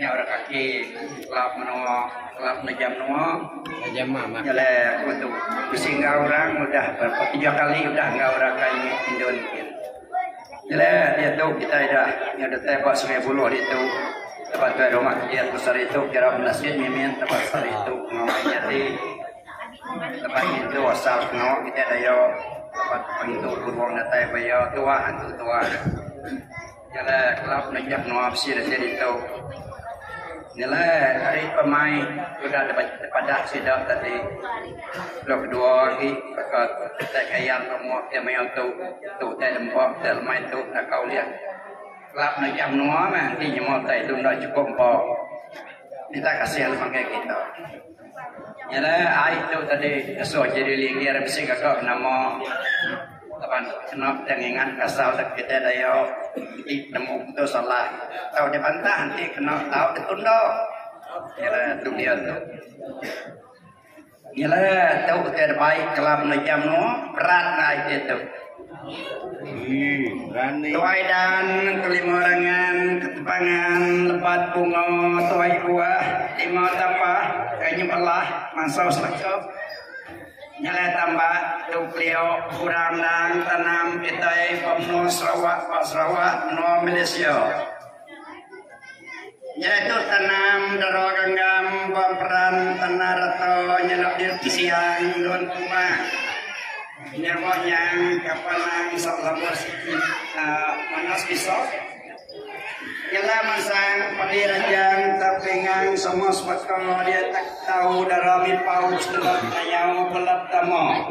Nya orang kaki kelap menoa kelap nejam menoa nejam mama jalai aku tu bisi enggau orang udah berapa tiga kali udah enggau orang kai ni indon mungkin jalai dia tu kita dah nya dah tai ba sungai buloh dia tu tempat tu rumah dia tu sari tu kira benda sikit mimin tempat sari tu ngau jadi tempat itu asal ngau kita dayo tempat pengitu buruang datai bayo tuah antu tuah Nyelai kelab nengah menua bisi datai ditu. Nyelai ari pemain udah dipadah sida tadi. Lalu kedua agi baka Utai Kayang tu muak ti mayuh tu. Tu utai lembap ti lemai tu naka ulih. Kelab nengah menua meh enti nyema utai tu enda chukup empa. Minta kasih lalu makai kita. Nyadai ai tu tadi ngesu Jerry Linggir bisi gaga nama laban kena dep ngingat pasal dep kitai dayau iti penemu tu salah tau dibantah enti kena tau ditunda nyadai tu dia tu. Nyadai tu utai dep ai kala menua ija menua berat angai iti tu. Tuai dan kelima rangan ketepangan lebat bunga tuai buah lima tapa ke nyebelah mansau selekep nyelai tambak tu keliu kurang endang tanam kitai pemenu Sarawak ba Sarawak menua Malaysia. Nyereta tanam dara genggam ba peran tanah rata nyenda diri kesiang endur kuma nya ba nyang kapa nang isak labur siti aaa manas iso ngena mansang padi ranjang tau pingan semua sebaka diatak tau dara mipau sida tayau bela tama.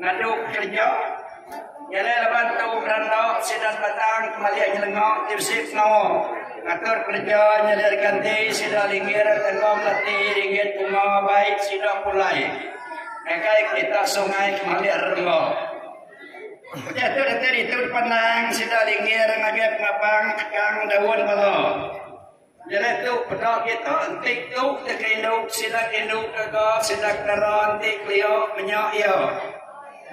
Ngadu kereja. Nyelai laban tu beranda sida batang kemali nyelenga Tusik pengawa ngatur kereja nyelai reganti sida linggir enggau melati ringgit bunga bai sida pulai ngagai kerita sungai kemali remba. Udah tu datai ditu dipandang sida linggir ngagai pengapang tegang daun bala. Jari tu peda kita enti tu ke kerindu sida kerindu ke ga sida kedara enti kelia menya iya.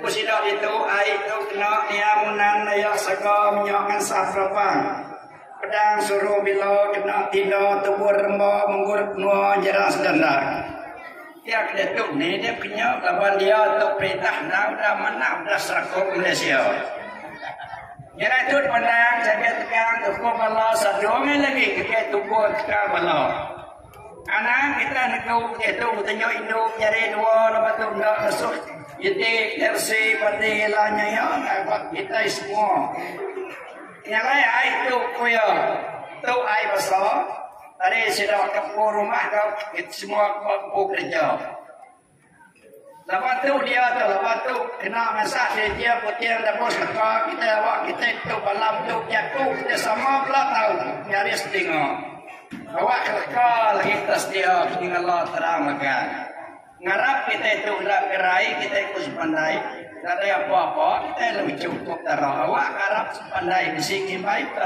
Ku sida ditu ai tu kena niang Unan Dayak Saga menya ngan Safra Pang. Pedang suru bila kena tinda tubur remba menggut menua Jarang Sedanrak. Pia ke diatu nidip ke nyu laban dia tu perintah enggau udah manah bela serakup Malaysia. Nyadi tu dipandang Jaget Tegang Tuku Bala sadungi lagi kaki tuku tekal bala. Anang kita negu kaki tu betenyu indu nyari dua lepas tu enda ngesuh iti tersi pati lanya ya ngapak kita semua. Nyalai ai tu kuya tu ai besar Ari sida ke empu rumah tu kita semua ke empu kerja. Laban tu dia tu laban tu kena masak di dia putih dah bos kata kita awak kita tu balam tu jaku kita sama pula tahu nyari setinga. Awak kelaka lagi tak setia tinggal terang makan. Ngarap kitai tu enda gerai kitai ku sepandai nadai apa-apa kitai lalu chukup tara awak ke arap sepandai bisi ngimbai ke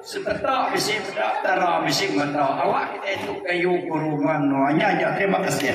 sebeta bisi meda tara bisi meda awak kitai tu kayu guru manoa nya aja terima kasih.